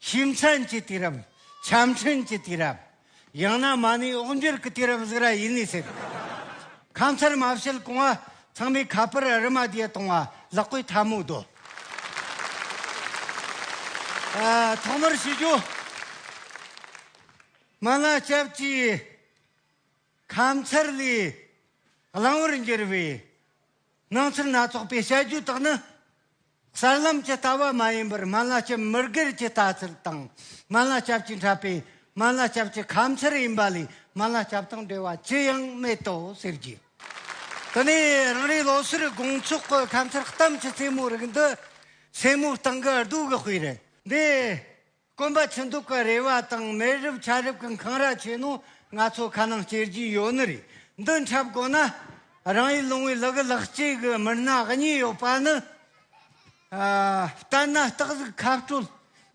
ཞིམ་མཚམས་ཀྱི་དུས་རབས། ཆ་འཕྲིན་གྱི་དུས་རབས། ཡང་ན་མ་ཎི་ཨོག་འགྱུར་གྱི་དུས་རབས་ཟིག་ར་ཡིན་ནི་སྲིད། ཁམས་ཚར་མ་བྱེད་གོང་བ་ཚང་མའི་ཁ་པར་རི་མ་དེ་གཏོང་བ་ལག་པའི་ཐ་མོ་བདོ། ཐོག་མར་བྱེད་རྒྱུ། མ་ལ་སྐྱབས་ཀྱིས་ཁམས་ཚར་ལས་བླང་བར་འགྱུར་བའི་སྣང་ཚུལ་སྣ་ཚོགས་པའི་བྱ་རྒྱུ་དག་ནི། གསར་ལམ་གྱི་ལྟ་བ་མ་ཡིན་པར་སྨན་བླ་སྤྱི་མི་སྒེར་གྱི་ལྟ་ཚུལ་དང་སྨན་བླ་སྐྱབས་ཀྱིས་འཁྲབ་པའི་སྨན་བླ་སྐྱབས་ཀྱི་ཁམས་ཚུལ་ཡིན་པ་ལས་སྨན་བླ་སྐྱབས་དང་འབྲེལ་བ་ཅི་ཡང་མེད་དོ་ཟེར་རྒྱུ། དེ་ནས་རང་རེའི་ལོ་སར་དགོང་ཚོགས་ཀྱི་ཁམས་ཚུལ་གཏམ་གྱི་རྩེད་མོ་རིགས་འདི་སེར་མོ་སྟེང་གི་རྡོ་གི་དཔེ་རེད། འདི་དཀོན་པ་ཆུ་མདོག་གི་རེ་བ་དང་མེ་རུབ་ཆ་རུབ་གི་འཁང་ར་ཆེ་ནོ་ང་ཚོ་ཁ་ནང་སྐྱེལ་རྒྱུ་ཡོད་ནི་རེད་འདི་འཁྲབ་དགོ་ན་རང་ཡུལ་ལུང་བའི་ལག་གི་ལག་སྐྱེས་གི་མི་སྣ་གཉིས་ཡོད་པ་ནི་ལྟར་ན་སྟག་གཟིག་ཁ་སྤྲོད་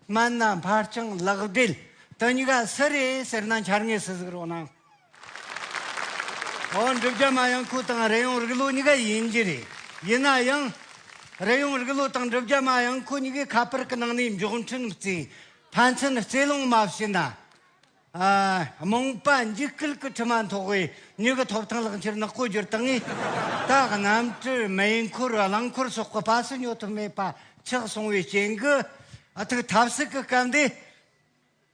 སྨན་སྣ་འཕར་ཆང་ལག་སྦྲེལ་དུ་ཉི་ག་སི་རེད་ཟེར་ན་འཆར་ངེས་སུ་གཟིགས་རོགས་གནང། ཨོ་འགྲུབ་རྒྱ་མ་ཡང་ཁུལ་དང་རེ་ཡོང་རིགས་ལུགས་གཉིས་ཀ་ཡིན་གྱི་རེད། ཡིན་ན་ཡང། རེ་ཡོང་རིགས་ལུགས་དང་འགྲུབ་རྒྱ་མ་ཡང་ཁུལ་གཉིས་ཀའི་ཁ་པར་གྱི་ནང་ནས་མགྱོགས་འཕྲིན་བརྩི། ཕན་ཚུན་བརྩི་སློང་མ་བྱས་ན། རྨོངས་པ་འཇིགས་སྐུལ་གྱི་དྲི་མ་མཐོ་བའི་མྱུ་གུ་ཐོབ་ཐང་ལག་འཁྱེར་ནག་པོ་བསྒྱུར་སྟངས་ངས་ད་གནམ་གྲུ་མེ་འཁོར་རླངས་འཁོར་སོགས་ཀྱི་སྤ་སེ་ཉོ་ཐུབ་མེད་པ་ཆགས་སོང་བའི་རྐྱེན་གྱིས་ཐུགས་ཐབས་ཟིག་གི་སྐབས་འདི་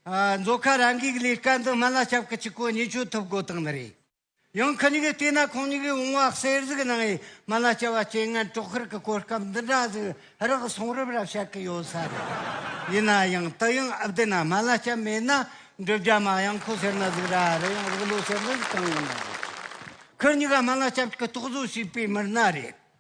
མཛོད་ཁང་རང་འགུལ་གྱི་ལས་ཀ་འདི་སྨན་བླ་སྐྱབས་ཀྱི་སྤྱི་སྐོར་ཉིན་བཅུ་ཐུབ་དགོས་དོན་ནི་རེད། ཡང་ཁ་ཉིན་གྱི་བལྟས་ན་ཁོང་ཉིད་ཀྱིས་འོང་བ་གསེར་གཟིགས་གནང་བའི་སྨན་བླ་སྐྱབས་པ་སྤྱན་སྔའི་དཀྲོག་གཤེར་གྱི་སྐོར་སྐབས་འདི་འདྲ་ཟིག་རག་གསུང་རབ་རབ་བཤད་ཀྱི་ཡོད་ས་རེད། ཡིན་ན་ཡང་དུ་ཡང་ཨ་བདེ་ན་སྨན་བླ་སྐྱབས་མེད་ན་འབྲུ་རྒྱ་མ་གཡང་ཁོ་ཟེར་ན་ཟིག་ར་རེད་ཡང་རིག་ལོ་ཟེར་ན་ཟིག་གང་ཡིན་ན་རེད། ཁོ་གཉིས་ཀ་སྨན་བླ་སྐྱབས་ཀྱི་རྟོག་བཟོ་བྱས་པའི་མི་སྣ་རེད།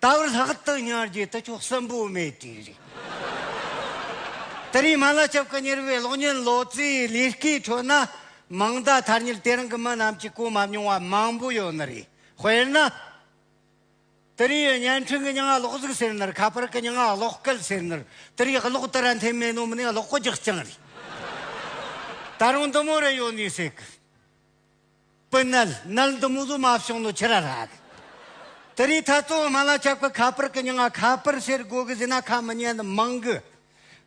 རྟག་ལྷག་ཏུ་ཉར་རྒྱུའི་དུ་ཆོག་གསོན་པོ་མེད་དུས་རེད། དེ་རིང་མ་ལ་ཆབ་ཁ་གཉེར་བའི་གློག་བརྙན་ལོ་ཙཱའི་ལས་ཀའི་ཁྲོད་ན་མིང་བརྡ་ཐར་ཉེར་དེ་རིང་གི་མི་རྣམས་ཀྱིས་གོ་མ་མྱོང་བ་མང་པོ་ཡོད་ནི་རེད། དཔེར་ན། དེ་རིང་ཡི་བརྙན་འཕྲིན་གྱི་ཉིང་གློག་གཟུགས་ཟེར་ནི་ཁ་པར་གྱི་ཉིང་གློག་སྐད་ཟེར་ནི་དེ་རིང་གློག་དར་འཐེན་མེད་ནོ་མིན་གློག་རྒྱག་རྐྱང་རེད། ད་རུང་འདི་མོ་རེ་ཡོད་ནི་སྲིད། པུ་ནལ་ནལ་འདུ་མུ་ལུ་མ་བྱུང་ནོ་ཁྱི་ར་ར་ཨ། དི་རི་ཐ་ཏུ་མ་ལ་ཅག་པུ་ཁ་པར་གི་ཉིང་ཨ་ཁ་པར་ཟེར་གོ་གི་ཟི་ན་ཁ་མི་ཉན་ནི་མང་གི།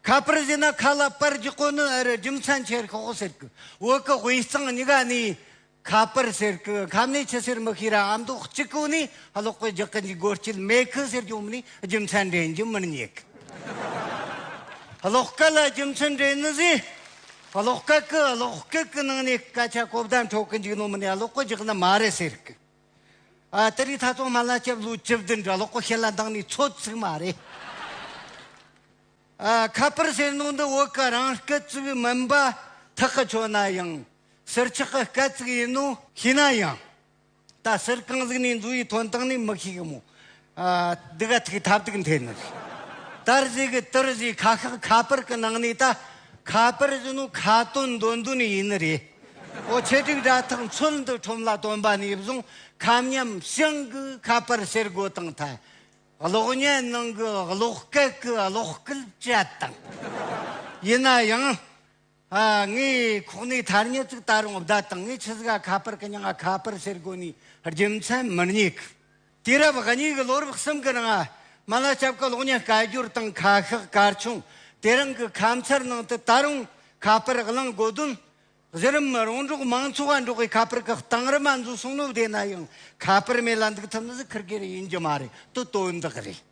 ཁ་པར་ཟི་ན་ཁ་ལ་པར་རྒྱུག་གོ་ནི་ཨི་རི་རྒྱུ་མཚན་ཆེར་ཤོག་ཟེར་གི་བུ་གི་དབུས་གཙང་ཉི་ག་ནི་ཁ་པར་ཟེར་གི་ཁ་མི་ཆི་ཟེར་མི་ཤེས་ར་ཨ་མདོ་གཅིག་གོ་ནི་ཨ་ལོག་པུ་རྒྱག་གི་འཇུག་གོ་སྐྱིད་མེ་ཁི་ཟེར་གྱོང་མི་ནི་རྒྱུ་མཚན་འདྲེན་རྒྱུ་མི་ཉེ་གི། ཨ་ལོག་ཀ་ལ་རྒྱུ་མཚན་འདྲེན་ནི་ཟི། ཀློག་སྐད་ཀྱི་ཀློག་སྐད་ཀྱི་ནང་ནས་སྐད་ཆ་གོ་བདེ་འཕྲོད་ཀྱི་འཇུག་ནོ་མིན་ཡ་ཀློག་གོ་འཇུག་ནི་མ་རེད་ཟེར་གི། ཨ་ཏི་རི་ཐ་ཚོང་སྨན་ལ་སྐྱབས་ལོ་བཅུ་བདུན་འདྲ་ཀློག་གོ་ཤེས་ལ་འདང་ནི་ཚོད་ཚིག་མ་རེད། ཨ་ཁ་པར་ཟེར་ནོ་འདི་བོད་ཀྱི་རང་སྐད་ཚིག་མིན་པ་ཐག་གི་ཆོད་ན་ཡང་ཟུར་ཆག་གི་སྐད་ཚིག་ཡིན་ནོ། ཤེས་ན་ཡང་ད་སེར་རྐང་གཟིགས་ནས་འཛུལ་ཡི་དོན་དག་ནི་མི་ཤེས་གི་མོ། སྡི་ག་ཐིག་ཐབ་ཐིག་འཐེན་ནི། དར་བཟས་གི་དིར་བཟས་ཁ་ཤག་ཁ་པར་གི་ནང་ནས་ད་ཁ་པར་བཞིན་ནོ་ཁ་དོན་འདོན་དོན་ཡིན་ནི་རེད། ཨོ་ཆེ་དྲུག་དྲ་ཐག་འཚོལ་འདི་ཁྲོམ་ལ་སྟོན་པ་ནས་བཟུང་ཁ་མཉམ་བྱང་གི་ཁ་པར་ཟེར་དགོས་དང་ཐ་གློག་བརྙན་ནང་གི་གློག་སྐད་གི་གློག་སྐུལ་བྱེད་དང། ཡིན་ན་ཡང། ངའི་ཁོག་ནས་ཐར་ཉེར་གཅིག་ད་རུང་བརྡ་དང་ངའི་ཆུ་ཟླ་ཁ་པར་གྱི་ཉིང་ཁ་པར་ཟེར་སྒོ་ནས་རྒྱུ་མཚན་མི་རྙེད་གི། དུས་རབས་ཉིས་ཀྱི་ལོ་རབས་གསུམ་གྱི་ནང་མི་ལ་སྐྱབས་ཀྱི་གློག་བརྙན་བསྐལ་བསྒྱུར་དང་ཁ་ཤགས་སྐར་ཆུང་དེ་རིང་གི་ཁམས་ཚར་ནང་དུ་ད་རུང་ཁ་པར་བླངས་དགོས་དོན། གཞི་རིམ་རོང་འབྲོག་མང་ཚོགས་ལ་འབྲོག་པའི་ཁ་པར་གྱི་གཏིང་རིམ་མ་འཛུགས་གསུངས་ནོ་བསྡད་ན་ཡང་ཁ་པར་མེད་ལ་འདུག་ཐུབ་ནི་ཟིག་ཁུར་གེར་ཡིན་རྒྱུ་མ་རེད་དོ་དོན་དག་རེད།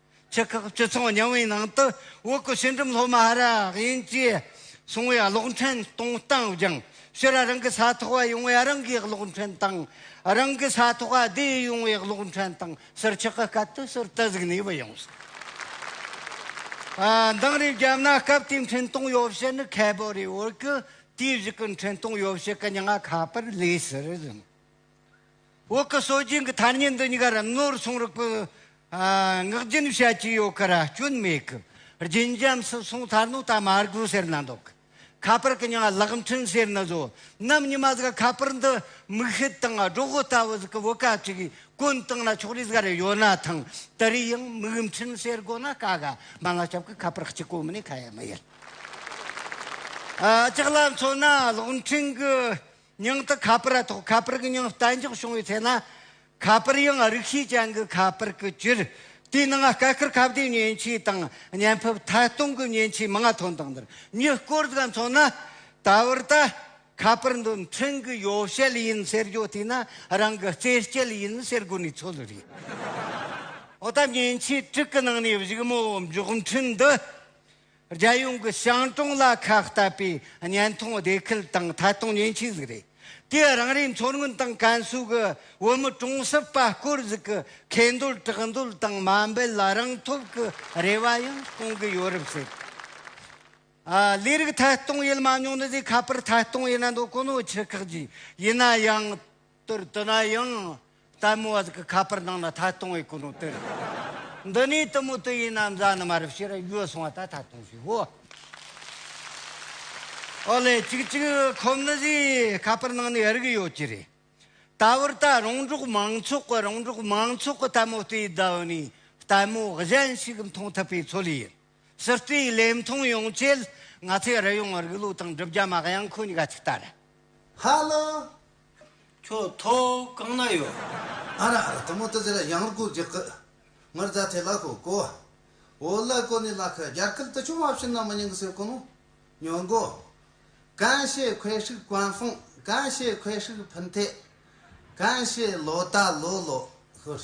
ཆེ་ཁག་བཅུ་ཚང་བ་མཉམ་འོས་ནང་དུ་བོད་སྐུ་ཕྱི་འགྲིམ་སློབ་མ་ར་ཡིན་གྱིས་གསུང་བའི་གློག་འཕྲིན་གཏོང་སྟངས་བསྒྱངས་ཕྱིར་རང་གི་ས་ཐོག་བ་ཡོང་བའི་རང་གིས་གློག་འཕྲིན་བཏང། རང་གི་ས་ཐོག་བ་བསྡད་ཡོང་བའི་གློག་འཕྲིན་བཏང་ཕྱིར་ཆེ་ཁག་སྐབས་དེ་ཟུར་དུ་གཟིགས་ནས་བུད་ཡོང་སོང། འདང་རེ་བརྒྱབ་ན་སྐབས་དེའི་འཕྲིན་གཏོང་ཡོ་བྱད་ནི་ཁལ་བོ་རེའི་འོག་གི་དུས་བཞི་གི་འཕྲིན་གཏོང་ཡོ་བྱད་གི་ཉི་ང་ཁ་པར་ལས་ཟེར་བཞིན། འོག་གི་སྲོལ་རྒྱུན་གྱི་ཐ་སྙད་འདི་གཉིས་ཀར་རིམ་ནོར་གསུང་རོགས་པོས་བསྔགས་རྒྱུན་བཤད་ཀྱི་ཡོད་ཀར་སྐྱོན་མེད་གི། རྒྱུན་འབྱམས་སུ་སོང་ཐར་ནོ་ད་མ་རྒོད་ཟེར་ན་འདོག་གི། ཁ་པར་གྱི་མྱང་གླག་འཕྲིན་ཟེར་ན་བཟོ། ནམ་ཉི་མ་ཟིག་ཁ་པར་འདི་མིག་ཤེལ་དང་སྒྲོག་གོ་ལྟ་བུ་ཟིག་གི་བུ་ག་ཅིག་གིས་བཀོན་བཏང་ན་ཕྱོགས་རིས་ག་རེ་ཡོད་ན་ཐང་དེ་རིགས་ཡང་མིག་འཕྲིན་ཟེར་དགོས་ན་དཀའ་ག་མ་ང་སྐྱབས་ཀྱི་ཁ་པར་གཅིག་གོ་མི་ནི་ཁ་ཡ་མི་ཡིན། ལྕགས་ལ་མཚོན་ན་གློག་འཕྲིན་གྱི་ཉིང་དུ་ཁ་པར་ཐོག་ཁ་པར་གྱི་ཉིང་གཏན་འཇགས་བྱུང་བའི་ཚེ་ན། ཁ་པར་ཡང་རིགས་ཤེས་ཅན་གྱི་ཁ་པར་དུ་གྱུར། དེའི་ནང་སྐད་ཁུར་ཁ་བརྡའི་མཉེན་ཆས་དང་བརྙན་ཕབ་མཐའ་སྟོང་གི་མཉེན་ཆས་མང་ཐོན་དང་འདིར་ཉིད་བཀོལ་དགོས་མཚོན་ན། ད་བར་ད། ཁ་པར་འདི་འཕྲིན་གྱི་ཡོ་བྱད་ཡིན་ཟེར་རྒྱུ་དེས་ན་རང་གི་རྩེད་སྤྱད་ཡིན་ཟེར་དགོས་ནི་ཚོད་རེད། འོ་ད་མཉེན་ཆས་དྲུག་གི་ནང་ནས་བཞུགས་མོ་འབྱོག་འཕྲིན་འདི། རྒྱལ་ཡོངས་ཀྱི་ཞང་གྲོང་ལ་ཁ་གཏད་པའི་བརྙན་ཐུང་སྡེ་ཁུལ་དང་ཐད་གཏོང་ཉེན་ཆེ་ཟིག་རེད། དེས་རང་རེའི་མཚོ་སྔོན་དང་ཀན་སུའུ་གི་བོད་མི་གྲོང་གསེབ་པ་སྐོར་ཟིག་གི་ཁེ་འདོད་གྲགས་འདོད་དང་མ་འབད་ལ་རང་ཐོབ་ཀྱི་རེ་བ་ཡང་སྐོང་གི་ཡོད་རབས་ཟེར། ལས་རིགས་ཐད་གཏོང་ཡུལ་མ་ཉུང་ནི་ཟིག་ཁ་པར་ཐད་གཏོང་ཡིན་ན་འདོད་ཀོ་ནོ་ཆི་ཁག་ཅིག་ཡིན་ན་ཡང། དུར་དུ་ན་ཡང་དལ་མོ་བ་ཟིག་གི་ཁ་པར་ནང་ན་ཐ་སྟོང་བའི་གོ་ནོ་དུར། འདི་ནས་དུ་མོ་དུ་ཡིན་ན་མཛའ་ནུ་མ་རུ་བྱེད་ར་ཡོད་སོང་བ་ད་ཐ་སྟོང་ཞིག་བོ། ཨོ་ལེ་ཅིག་ཅིག་ཁོ་མི་ཟིག་ཁ་པར་ནང་ནས་རིག་ཡོད་ཀྱི་རེད། ད་བར་ད་རོང་འབྲོག་མང་ཚོགས་གི་རོང་འབྲོག་མང་ཚོགས་གི་དལ་མོ་དེ་ད་ནས་དལ་མོ་གཞན་ཞིག་མཐོང་ཐུབ་པའི་ཚོད་ཡིན། སྲིད་སྤེལ་ལས་མཐོང་ཡོང་ཆེད་ང་ཚོས་རི་ཡོང་རིགས་ལུགས་དང་གྲུབ་རྒྱ་མ་གཡང་ཁོ་གཉིས་ཀ་ཅིག་ལྟ་རེད། ཧ་ལོ། ཁྱོད་ཐོ་གང་ན་ཡོད། ཨ་ར་ཨ་ར་དུ་མོ་དུ་ཟེར་གཡང་རྒུ་རྒྱུག་གི། ངུར་རྫ་དེ་ལ་ཧོ་ཀོ། འོ་ལ་ཀོ་ནི་ལ་ཁི་རྒྱར་ཁུལ་དུ་ཆུང་མ་བྱིན་ན་མི་ཉུང་གི་སེར་ཀོ་མོ། ཉོ་མགོ། གན་ཤེ་ཁོའི་ཧྲིག་གོན་ཧྥུང་གན་ཤེ་ཁོའི་ཧྲིག་ཕུན་ཐེ། གན་ཤེ་ལོ་ད་ལོ་ལོ་ཧུར།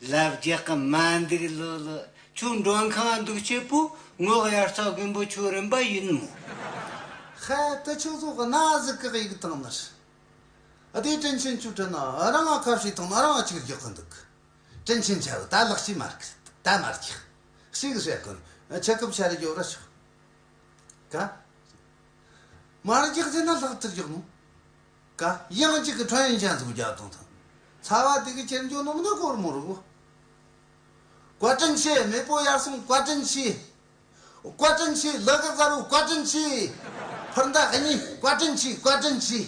ལབ་རྒྱག་གི་མ་འདུག་ལོ་ལོ། ཁྱོད་མགྲོན་ཁང་འདུག་སྐྱེས་བུ་ངོ་གཡར་རྩ་དགོན་པོ་ཁྱོད་རིན་པ་ཡིན་མོ། ཧེ་དེ་ཁྱོད་ཚོ་གནའ་གཟིགས་གི་ཡིག་རྟགས་ནི་རེད། དེའི་དྲིན་ཆེན་ཁྱོད་དྲན་ན་རང་ག་བྱས་ཐོག་ན་རང་གཅིག་རྒྱག་གི་འདུག། དྲིན་ཆེན་ཆ་བོ་ད་ལག་ཤི་མ་རྐི་ད་མ་རྒྱག། ཞིག་བྱེད་དགོན་ཆེ་སྐབས་ཆ་རེ་ཡོད་ར་ཆོག་ག། མ་རྒྱག་བྱས་ན་ལྷག་ཏུ་རྒྱག་མོ། ཀ། དབྱངས་གཅིག་གི་ཁྲོད་ཡན་ཆད་འཛུགས་རྒྱག་གཏོང་ཐུབ། ཚ་བ་དུས་ཀྱི་ཁྱེར་འཇོག་སྣུམ་སྡོད་གོར་མོ་རུ། བཀའ་དྲིན་ཆེ་མེས་པོ་དབྱར་གསུམ་བཀའ་དྲིན་ཆེ། བཀའ་དྲིན་ཆེ་ལི་གི་གཟར་བོ་བཀའ་དྲིན་ཆེ། ཕུར་མདའ་གཉིས་བཀའ་དྲིན་ཆེ་བཀའ་དྲིན་ཆེ།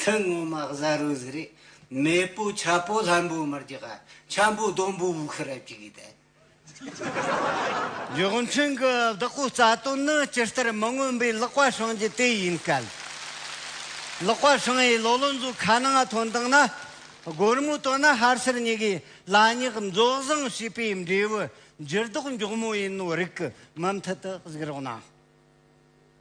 ཐུན་སྔོན་མ་གཟར་བོའི་གཟི་རིགས་མེས་པོ་ཆ་པོ་ལྷམ་པོ་དམར་གྱི་ག་ཆམ་པོ་ལྡོམ་པོ་དབུགས་ཧི་རབ་ཀྱི་གི་དལ། རྒྱུགས་མཚོན་གྱི་བདག་པོའི་རྩ་དོན་ནི་སྤྱི་ལྟར་མི་མངོན་པའི་ཀློག་པ་བྱུང་རྒྱུ་དེ་ཡིན་སྐད། ཀློག་པ་བྱུང་བའི་བློ་ལོ་འཛུགས་ཁ་ནང་ང་ཐོན་དང་ན་སྒོར་མོ་བཏོན་ན་ཧར་སེར་གཉིས་ཀའི་ལ་སྙེག་འཛོགས་བཟང་བྱས་པའི་འབྲས་བུ་འགྱུར་ལྡོག་མགྱོགས་མོ་ཡིན་ནོ་རིགས་ཀྱི་མུ་མཐུད་དུ་གཟིགས་རོགས་གནང།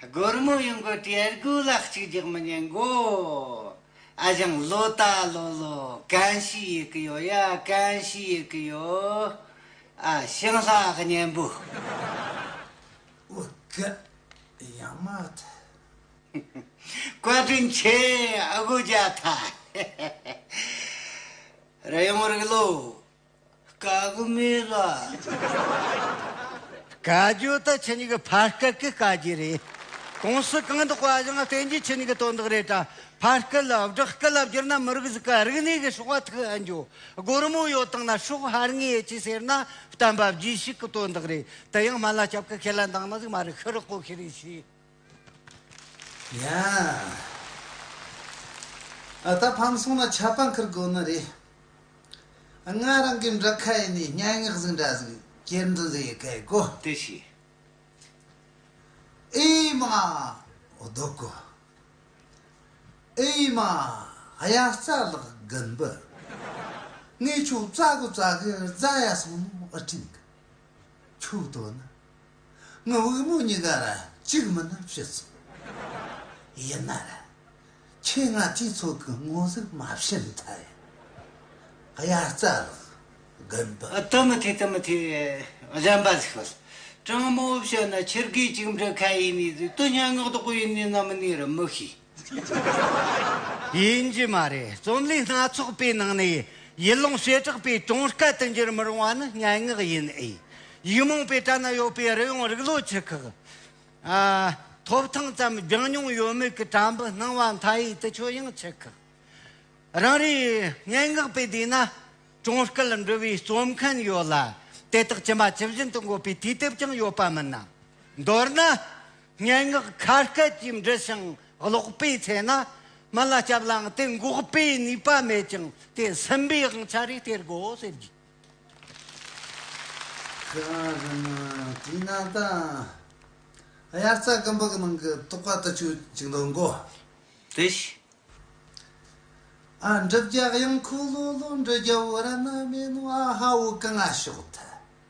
སྒོར་མོ་ཡོང་གི་དྲི་གུ་ལ་གཅིག་རྒྱག་མི་ཉན་གོ། ཨ་ཞང་ལོ་ལྟ་ལོ་ལོ་གང་ཞིག་ཡོད་ཀི་ཡོད་ཡ་གང་ཞིག་ཡོད་ཀི་ཡོད། ཨ་ཞང་ལྷ་གཉན་པོ། དབུགས་ཀྱི་ཡང་མ་ཐག། བཀའ་དྲིན་ཆེ་ཨ་དགོ་རྒྱ་ཐག། རེ་ཡོང་རིགས་ལོ། དགག་མི་ལ། དགག་རྒྱུ་དེ་ཁྱེད་གཉིས་ཀྱི་ཕར་སྐད་ཀྱི་དཀའ་རྒྱུ་རེད། གོང་ས་གང་དུ་བཀའ་བཞེངས་བསྟན་རྒྱུ་ཁྱེད་གཉིས་ཀྱི་དོན་དག་རེད་གྲྭ་ཕར་སྐད་ལ་བསྒྲགས་སྐད་ལ་བསྒྱུར་ན་མི་རིགས་གཟུགས་ཀ་རིག་གནས་ཀྱི་ཕྱོགས་བ་ཐུག་ཨེ་འགྱོ། སྒོར་མོ་ཡོད་སྟངས་ན་ཕྱོགས་ཧར་ངེས་ཡོད་ཅེས་ཟེར་ན་བསྟན་པ་བརྒྱུད་ཞིག་གི་དོན་དག་རེད་དེ་ཡང་སྨན་བླ་སྐྱབས་ཀྱི་ཁས་ལེན་བཏང་ན་ཟིག་མ་རེད་ཤི་རག་གོ་ཤི་རེད་ཤི། ཡང་ད་ཕམ་སོང་ན་ཆད་པ་འཁུར་དགོས་ནི་རེད། ང་རང་གི་འདྲི་ཁ་ཡིན་ནས་སྙན་ངག་གཟིགས་འདྲ་གཟིགས་གྱེར་འདོན་ཟེར་ཡི་གེ་གོ། དེ་བྱས། ཨེ་མ། སྡུག་གོ། ཨེ་མ། གཡའ་རྩ་ལག་དགུ་འབུ། ངས་ཁྱོད་རྩ་དགུ་རྩ་དགུ་རྫ་ཡ་སོང་ནོ་ཨི་དྲན་གི། ཁྱོད་དོ་ན། ང་དབུལ་མོ་གཉིས་ཀ་ལ་གཅིག་མིན་ན་ཤི་སོང། ཡིན་ན་རེད། ཁྱེད་ང་སྤྱི་ཚོགས་ཀྱི་ངོ་གཟུགས་མ་ཕྱེ་མཐར་ཡང། དབྱར་རྩ་ལགས། དགོན་པ། དུ་མི་ཐེ་དུ་མི་ཐེ། གཞན་པ་ཟིག་ཤོད། དྲང་མོ་བཤད་ན་ཁྱེད་སྐད་ཅིག་འབྲི་མཁན་ཡིན་ནི་ཟིག་དུ་སྙན་ངག་ཏུ་བཀོད་ཡིན་ནི་ནམ་ནི་རུ་མི་ཤེས། ཡིན་རྒྱུ་མ་རེད། རྩོམ་ལུས་སྣ་ཚོགས་པའི་ནང་ནས་ཡུལ་ལུང་བྱེ་བྲག་པའི་དྲུང་སྐད་དུ་འགྱུར་མི་རུང་བ་ནི་སྙན་ངག་ཡིན་ཨེ། ཡིག་རྨོངས་པའི་གྲལ་ན་ཡོད་པའི་རི་ཡོང་རིག་བློ་ཆུ་ཁག། ཐོབ་ཐང་ཙམ་སྦྱང་མྱོང་ཡོད་མོད་ཀྱི་དྲ་འབུ་སྣང་བ་མཐའ་ཡས་དུ་ཆོས་དབྱིངས་ཆུ་ཁག། རང་རེའི་སྙན་ངག་པའི་སྡེ་ན་དྲུང་སྐད་འབྲི་བའི་རྩོམ་མཁན་ཡོད་ལ། དེ་དག་ཇི་མ་ཇི་བཞིན་དུ་འགོད་པའི་དུས་དེབ་ཀྱང་ཡོད་པ་མིན་ནམ། མདོར་ན། སྙན་ངག་ཁ་སྐད་ཀྱིས་འབྲི་ཞིང་ཀློག་པའི་ཚེ་ན། མི་ལ་སྐྱབས་ལའང་དེ་འགོག་པའི་ནུས་པ་མེད་ཅིང་དེ་ཟིན་པའི་དབང་ཆ་རེ་སྟེར་དགོས་ཟེར་རྒྱུ། ཁྱེད་རང་རང་ཉིད་དྲིས་ན་ད། དབྱར་རྩྭ་སྐམ་པོ་གི་ནང་གི་རྟོག་པ་ལྟ་ཆུ་གཅིག་འདོག་མགོ། དེ་ཞིག། ཨ་འབྲུག་རྒྱག་ཡང་ཁུ་ལུ་ལུ་འབྲུ་རྒྱག་འུ་ར་ན་མེ་ནུ་ཨ་ཧ་འུ་ཀ་ང་ཤོག་ཐལ།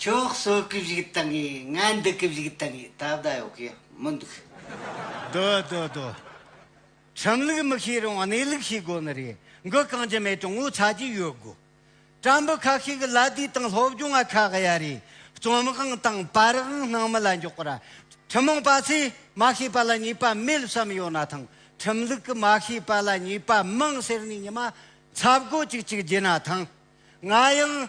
ཁྱོད་གསོད་སྐབས་ཞིག་བཏང་གི་ང་འདུལ་སྐབས་ཞིག་བཏང་གི་ད་ལྟ་ཡོད་ཀྱི་མི་འདུག། དོ་དོ་དོ། ཁྲིམས་ལུགས་མི་ཤེས་རུང་གནས་ལུགས་ཤེས་དགོས་ནི་རེད། འགུལ་རྐང་གྱི་མེ་དྲུང་ངོ་ཚ་གྱི་ཡོད་དགོས། དྲ་འབུ་ཁག་ཤིག་གི་ལ་དུས་དང་སློབ་སྦྱོང་བ་ཁག་གཡའ་རེ། རྩོམ་དབང་དང་པར་དབང་སྣང་མི་ལ་འཇོག་པ་ར། ཐུན་མོང་པ་ཚོས་མ་ཤེས་པ་ལ་ཉེས་པ་མེད་བསམ་ཡོད་ན་ཐང་ཁྲིམས་ལུགས་ཀྱི་མ་ཤེས་པ་ལ་ཉེས་པ་མང་ཟེར་ནས་ཉི་མ་འཚབ་དགོས་ཅིག་ཅིག་བགྱིད་ན་ཐང། ང་ཡང།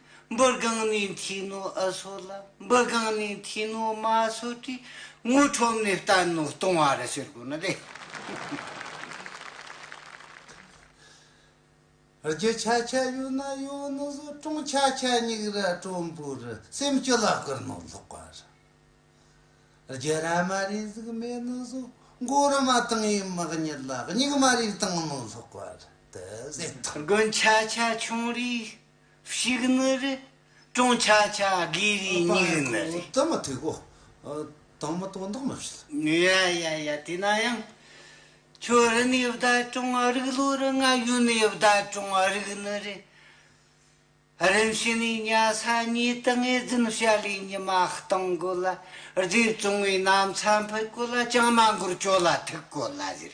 འབུར་སྒང་ནས་མཐིང་ནོ་ཨི་སོ་ལ་འབུར་སྒང་ནས་མཐིང་ནོ་མ་སོ་ཏི་དངུལ་ཁྲོམ་ནས་ལྟ་ནོ་ལྟུང་བ་ར་ཟེར་དགོས་ན་དེ། རྒྱུ་ཆ་ཆ་ཡོད་ན་ཡོད་ནོ་བཟོ་སྐྲུན་ཆ་ཆ་སྙིགས་ར་གྲོམ་བུ་ར་སེམས་སྐྱོ་ལ་བསྐུར་ནོ་ལོག་པ་ར། རྒྱུ་ར་མ་རིག་གཟུགས་མེད་ནོ་བཟོ་མགོ་ར་མ་དང་ཡི་མག་ཉིད་ལ་སྙིགས་མ་རིག་བཏང་ནོ་ལོག་པ་ར་དི་ཟེར་ཐང། དགུན་ཆ་ཆ་ཆུང་རིགས། ཤིག་ནི་རི། ཀྲུང་ཆ་ཆ་གི་རི་སྙིགས་ནི་རི། དེ་མ་ཐུག་གོ། དང་མི་དོ་མདོག་མི་བྱེད། ཡ་ཡ་ཡ་དེ་ན་ཡང། ཁྱོད་རི་ནས་བལྟ་ཀྲུང་ཨ་རིག་ལོ་རི་ང་ཡུལ་ནས་བལྟ་ཀྲུང་ཨ་རིག་ནི་རི། རིམ་ཞི་ནས་ཉ་ས་གཉིས་དུ་ངེས་འཛིན་བྱ་ལས་ཉི་མ་སྟོང་དགོས་ལ་རྫས་བཙོང་བའི་གནམ་ས་འཕུད་དགོས་ལ་ཅང་མ་འགོར་ཁྱོད་ལ་ཐུག་དགོས་ལ་ཟེར།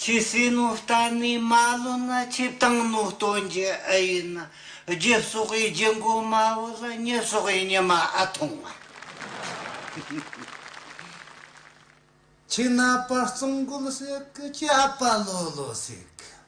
ཆུ་སྲིན་ནོ་རྟ་ནི་མ་ལོ་ན་ཆུ་བཏང་ནོ་ལྟོ་འགྱེ་ཨེ་ཡིན། རྒྱུ་སོགས་པའི་རྒྱུ་མགོ་མ་བོ་ལ་ཉི་སོགས་པའི་ཉི་མ་ཨ་ཐུང་བ། ཆུ་ནག་པ་གཙང་མགོ་ལོ་སྲེག་ཆུ་ཨ་པ་ལོ་ལོ་སྲེག།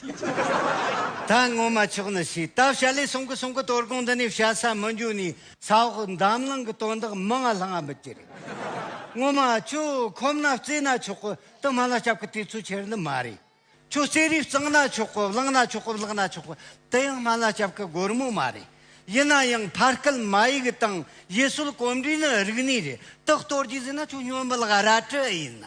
ད་སྔོན་མ་ཆོག་ནི་ཞེས་ད་བྱ་ལས་གསུང་གི་གསུང་གི་དོར་དགོངས་འདི་ནས་བྱ་ས་མི་འཇུག་ནས། ས་འོག་འདམ་ལང་གི་དོན་དག་མི་ང་ལྷང་ང་མི་བྱེད། སྔོན་མ་ཁྱོད་ཁོམ་ན་བརྩེ་ན་ཆོག་གི་དུ་མ་ལ་སྐྱབས་ཀྱི་དུས་ཚོད་ཁྱེར་ནི་མ་རེད། ཁྱོད་བརྩེ་རུས་གཙང་ན་ཆོག་གི་བླངས་ན་ཆོག་གི་བརླག་ན་ཆོག་གི་དུ་ཡང་སྨད་ལ་སྐྱབས་ཀྱི་སྒོར་མོ་མ་རེད། ཡིན་ན་ཡང་ཕར་སྐད་མ་ཡིག་དང་ཡུལ་སྲོལ་གོམས་འདྲིས་ནི་རིག་གནས་རེད་དུ་གཏོར་རྒྱུ་ཟེར་ན་ཁྱོད་སྨྱོན་འབུལ་ག་ར་ཀྲི་ཨེ་ཡིན་ན།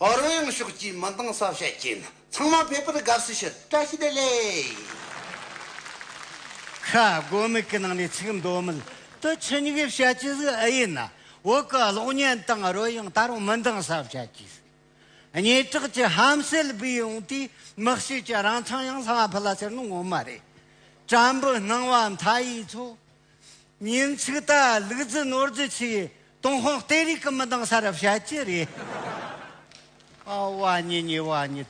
ཨོ་རོད་ཡང་ཕྱོགས་ཀྱིས་མི་འདང་ས་བཤད་ཀྱིན་ཚང་མ་ཕེབས་པར་དགའ་བསུ་ཞུ་བཀྲ་ཤིས་བདེ་ལེགས། ཤ་སྒོ་མིག་གི་ནང་ནས་ཚིག་འདོན་མིད་དུ་ཆུ་སྙིགས་བཤད་ཀྱི་ཟིག་ཨེ་ཡིན་ན་འོག་གི་གློག་བརྙན་དང་ཨོ་རོད་ཡང་ད་རུང་མི་འདང་ས་བཤད་ཀྱི་ཟིག་སྙེ་གྲགས་ཀྱི་ཧམ་སེལ་སྦས་ཡོང་དུས་མི་བཤད་ཀྱི་རང་ཚང་ཡང་ལྷ་མ་ཕུ་ལ་ཟེར་ནི་ངོ་མ་རེད་བྲམ་བུ་སྣང་བ་མཐའ་ཡས་ཚོ། ཉིན་ཚིག་ད་ལུག་རྫི་ནོར་རྫི་ཆིག་ཏུང་ཧོང་ལྟེ་རིག་གི་མི་འདང་ས་རབ་བྱ་ཅི་རེད། ཨ་བ་ཉི་ཉི་བ་ཉི།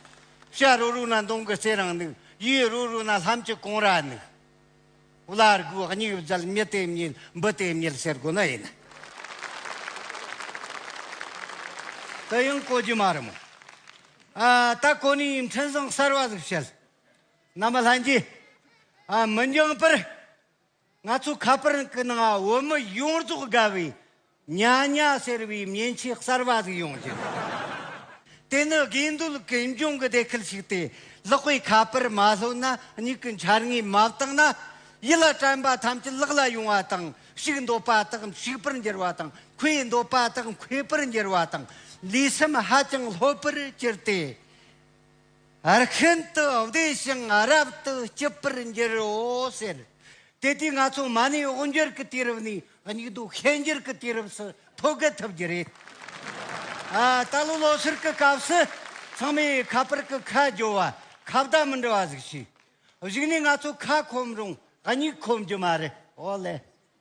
ཤ་རོ་རུ་ན་མདུང་གི་རྩེ་རང་ནུག་ཡུས་རོ་རུ་ན་ལྷམ་གྱི་གོང་ར་ནུག། བླ་རྒུ་སྙིགས་བརྫལ་མི་དེ་མཉེལ་འབུ་དེ་མཉེལ་ཟེར་དགོས་ན་ཡིན། དེ་ཡང་གོ་རྒྱུ་མ་རེད་མོ། ཨ་ད་གོ་ནི་ཡིན་འཕྲིན་བཟང་གསར་བ་ཟིག་བཤད། ནམ་ལྷན་རྒྱས། མི་འགྱང་པར། ང་ཚོ་ཁ་པར་གི་ནང་བོད་མི་ཡོངས་རྫོགས་དགའ་བའི་ཉ་ཉ་ཟེར་བའི་མཉེན་ཆས་གསར་པ་ཟིག་ཡོང་རྒྱུ་རེད། དེ་ནི་དགེ་འདུན་གྱི་འབྱུང་གི་སྡེ་ཁུལ་ཞིག་སྟེ་ལག་པས་ཁ་པར་མ་ལྷོད་ན་མྱིག་གི་འཆར་ངོས་མ་བརྟགས་ན་ཡིད་ལ་དྲན་པ་ཐམས་ཅད་ལག་ལ་ཡོང་བ་དང་ཞིག་འདོད་པ་དག་ཞིག་པར་འགྱུར་བ་དང་ཁོས་འདོད་པ་དག་ཁོས་པར་འགྱུར་བ་དང་ལུས་སེམས་ཧ་ཅང་ལྷོད་པོར་གྱུར་ཏེ། ཨར་ཤན་དུ་བདེ་ཞིང་ཨ་རབ་ཏུ་སྐྱིད་པར་འགྱུར་རོ་ཟེར། དེ་དུས་ང་ཚོ་མ་ཎི་འོ་འགྱུར་གྱི་དུས་རབས་ནས་སྙིགས་དུས་ཤན་འགྱུར་གྱི་དུས་རབས་སུ་ཐོ་བརྒལ་ཐུབ་རྒྱུ་རེད། ད་ལོ་ལོ་ཟུར་གྱི་སྐབས་སུ་ཚང་མས་ཁ་པར་གྱི་ཁ་རྒྱོ་བ་ཁ་བརྡ་མི་འབྲི་བ་ཟིག་བྱས། གཞིགས་ནས་ང་ཚོ་ཁ་ཁོམ་རུང་སྙིགས་ཁོམ་རྒྱུ་མ་རེད། ཨོ་ལེ།